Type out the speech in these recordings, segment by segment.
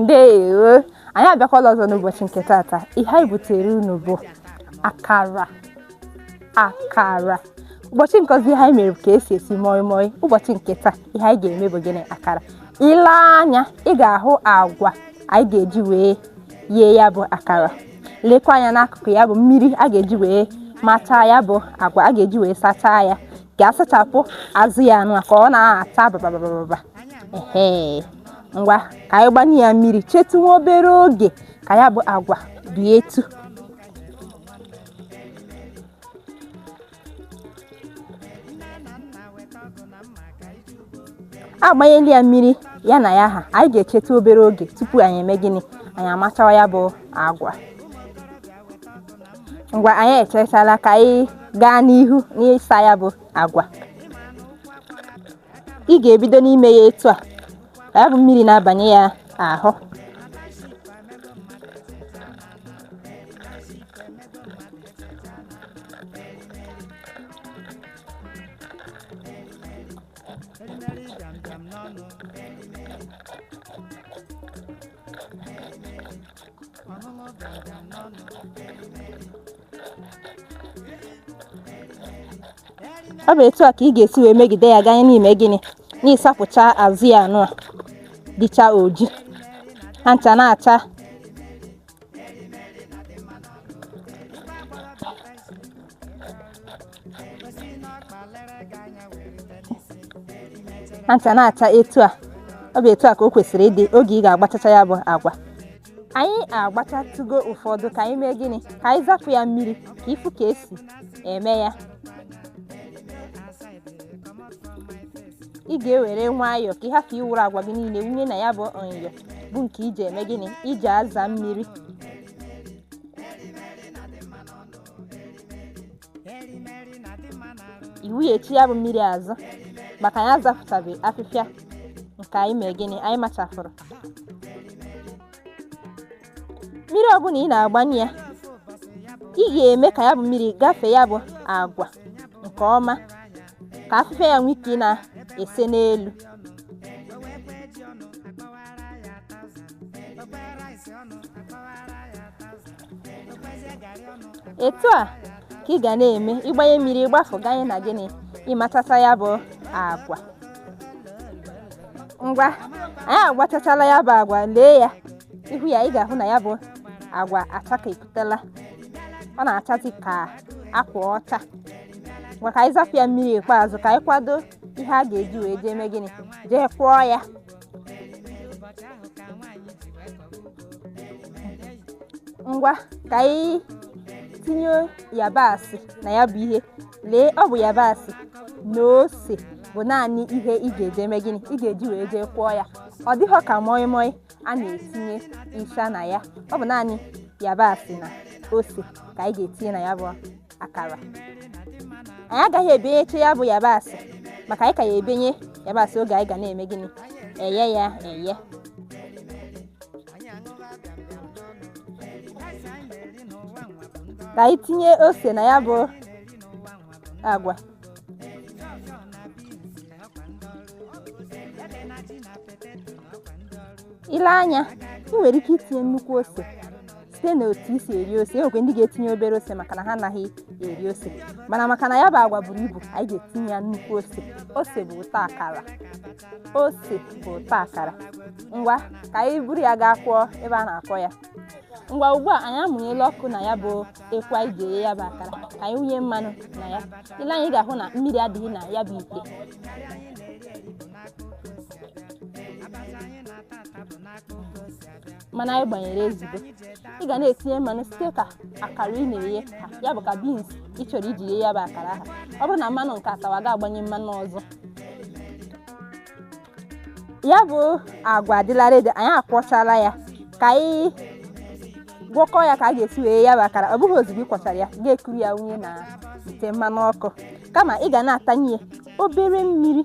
ndewo anyị abịakwala ọzọ n'ụbọchị nke taata ihe anyị butere unu bụ akara ụbọchị nke ọzọ ihe anyị mere ka esi esi moi moi ụbọchị nke taa ihe anyị ga-eme bụ gịnị akara i lee anya ị ga-ahụ agwa anyị ga-eji wee yee ya bụ akara lekwa anya n'akụkụ ya bụ mmiri a ga-eji wee machaa ya bụ agwa a ga-eji wee sachaa ya ga-asachapụ azụ ya anụ ka ọ na-acha bababababa ehe ngwa ka anyị gbanye ya mmiri chetụ nwa obere oge ka ya bụ agwa bie etu agbanyela ya mmiri ya na ya ha anyị ga-echetụ obere oge tupu anyị eme gịnị anyị amachawa ya bụ agwa ngwa anyị echechala ka anyị gaa n'ihu n'ịsa ya bụ agwa ị ga-ebido n'ime ya etu a ka ya bụ mmiri na-abanye ya ahụ ọ bụ etu a ka ị ga-esi wee megide ya ganye n'ime gịnị n'ịsapụcha azụ ya anụ a dịcha oji ha ncha na-acha etu a ọ bụ etu a ka o kwesịrị ịdị oge ị ga-agbachacha ya bụ agwa anyị agbachatụgo ụfọdụ ka anyị mee gịnị ka anyị zapụ ya mmiri ka ị fụ ka esi eme ya ị ga-ewere nwayọọ ka ị hapụ iwuru agwa gị niile wunye na ya bụ nyọ bụ nke iji eme gịnị iji aza mmiri i wunyechi ya bụ mmiri azụ maka anyị azapụtabe afịfịa nke anyị mee gịnị anyị machafụrụ mmiri ọbụla ị na-agbanye ya ị ga-eme ka ya bụ mmiri gafee ya bụ agwa nke ọma ka afịfịa ya nwee ike na-ese n'elu etu a ka ị ga na-eme ịgbanye mmiri ịgbafụ ganye na gịnị ịmachacha ya bụ agwa ngwa anyị agbachachala ya bụ agwa lee ya ihu ya ị ga-ahụ na ya bụ agwa achakepụtala ọ na-achazi ka akwa ọcha ngwa ka anyị zapụ ya mmiri ikpeazụ ka anyị kwado ihe a ga-eji wee jee mee gịnị jee kwọọ ya ngwa ka anyị tinye yabasị na ya bụ ihe lee ọ bụ yabasị na ose bụ naanị ihe ị ga-eji eme gịnị ị ga-eji wee jee kwọọ ya ọ dịghọ ka moi moi a na-etinye ịsha na ya ọ bụ naanị yabasị na ose ka anyị ga-etinye na ya bụ akara anyị agaghị ebenyecha ya bụ yabasị maka anyị ka ya ebenye yabasị oge anyị ga na-eme gịnị eye ya eye ka anyị tinye ose na ya bụ agwa i lee anya ị nwere ike itinye nnukwu ose site na otu i si eri ose e nwekwe ndị ga-etinye obere ose maka na ha anaghị eri ose mana maka na ya bụ agwa buru ibu anyị ga-etinye ya nnukwu ose ose bụ ụtọ akara ose bụ ụtọ akara ngwa ka anyị buru ya gaa kwọọ ebe a na-akwọ ya ngwa ugbu a anyị amụnyela ọkụ na ya bụ ekwu anyị ga-eghe ya bụ akara ka anyị wunye mmanụ na ya i lee anya ị ga-ahụ na mmiri adịghị na ya bụ ite mmanụ anyị gbanyere ezugo ị ga na-etinye mmanụ site ka akara ị na-eghe ha ya bụ ka beans ị chọrọ iji ghee ya bụ akara ha ọ bụrụ na mmanụ nke a tawa ị ga-agbanye mmanụ ọzọ ya bụ agwa adịla ready anyị akwọchala ya ka anyị gwọkọ ya ka a ga-esi ghee ya bụ akara ọ bụghị ozugbo ị kwọchara ya ị ga-ekuru ya wunye na ite mmanụ ọkụ kama ị ga na-atanye ya obere mmiri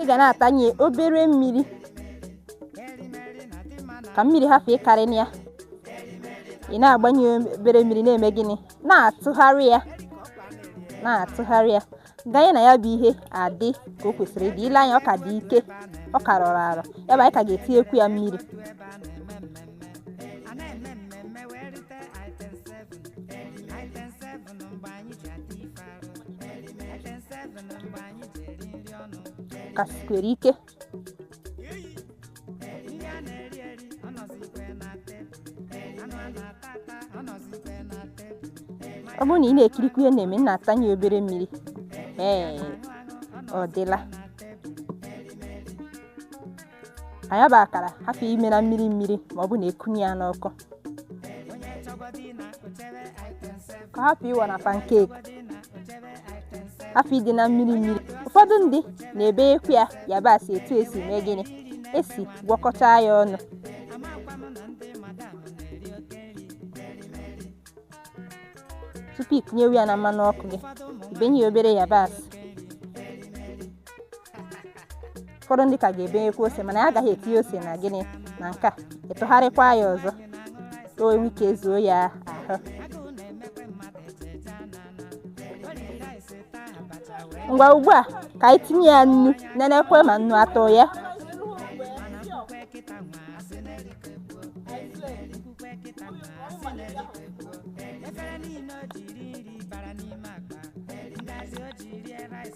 ị ga na-atanye obere mmiri ka mmiri hapụ ịkarị na ya ị na-agbanye obere mmiri na-eme gịnị na-atụgharị ya na-atụgharị ya ganye na ya bụ ihe adị ka o kwesịrị ịdị i lee anya ọ ka dị ike ọ ka rọrọ arọ ya bụ anyị ka ga-etinyekwu ya mmiri ọnụ mgbe anyị ji ata ife arụ ete seven mgbe anyị ji eri nri ọnụ ka sikwere ike ndị a na-eri eri ọnọzikwe na tebụl anụ a na-ata ata ọnọzikwe na tebụl ọ bụrụ na ị na-ekirikwu ihe na-eme m na-atanye obere mmiri ee ọ dịla anya bụ akara hapụ ime na mmiri mmiri ma ọ bụ na ekunye ya n'ọkụ ka ọ hapụ ịwọ na pancake hapụ ịdị na mmiri mmiri ụfọdụ ndị na-ebenyekwu ya yabasị etu esi mee gịnị esi gwakọta ya ọnụ tupu ikunyewe ya na mmanụ ọkụ gị ibenye ya obere yabasị ụfọdụ ndị ka ga-ebenyekwa ose mana anyị agaghị etinye ose na gịnị na nke a ịtụgharịkwa ya ọzọ ka o nwee ike zuo ya ahụ ngwa ugbu a ka anyị tinye ya nnu nenekwa ma nnu atọ ya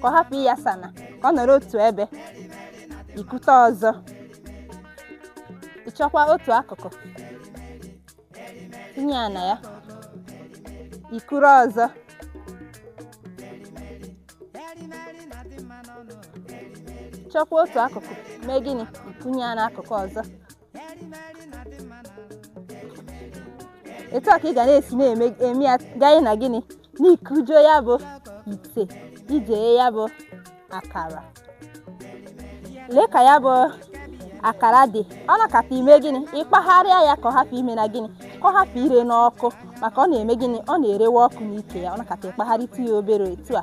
ka ọ hapụ ịyasa na ka ọ nọrọ otu ebe ikute ọzọ ịchọkwa otu akụkụ tinye ya na ya ikuru ọzọ chọkwa otu akụkụ mee gịnị ikunye ya n'akụkụ ọzọ etu a ka ị ga na-esi na-eme ya ganye na gịnị n'ikujuo ya bụ ite iji eye ya bụ akara lee ka ya bụ akara dị ọ nọkata ime gịnị ịkpagharịa ya ka ọ hapụ ime na gịnị ka ọ hapụ ire n'ọkụ maka ọ na-eme gịnị ọ na-erewe ọkụ n'ike ya ọ nọkata ịkpagharịta ya obere etu a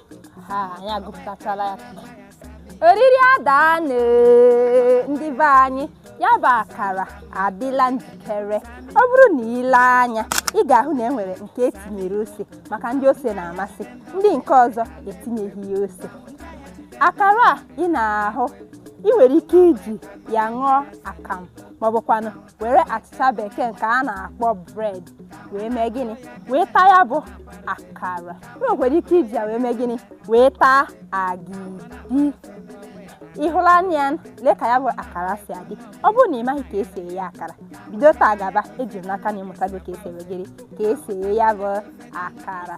oriri adaanụ ndị be anyị ya bụ akara adịla njikere ọ bụrụ na ile anya ị ga-ahụ na e nwere nke etinyere ose maka ndị ose na-amasị ndị nke ọzọ etinyeghị ya ose akara a ị na-ahụ ị nwere ike iji ya ṅụọ akamụ maọbụkwanụ were achịcha bekee nke a na-akpọ bread wee mee gịnị wee taa ya bụ akara ị nwekwara ike iji ya wee mee gịnị wee taa agidi ịhụla anya ya lee ka ya bụ akara si adị ọ bụrụ na ị maghị ka esi eye akara bido taa gaba eji m n'aka na ịmụtago ka esi eme gịnị ka esi eye ya bụ akara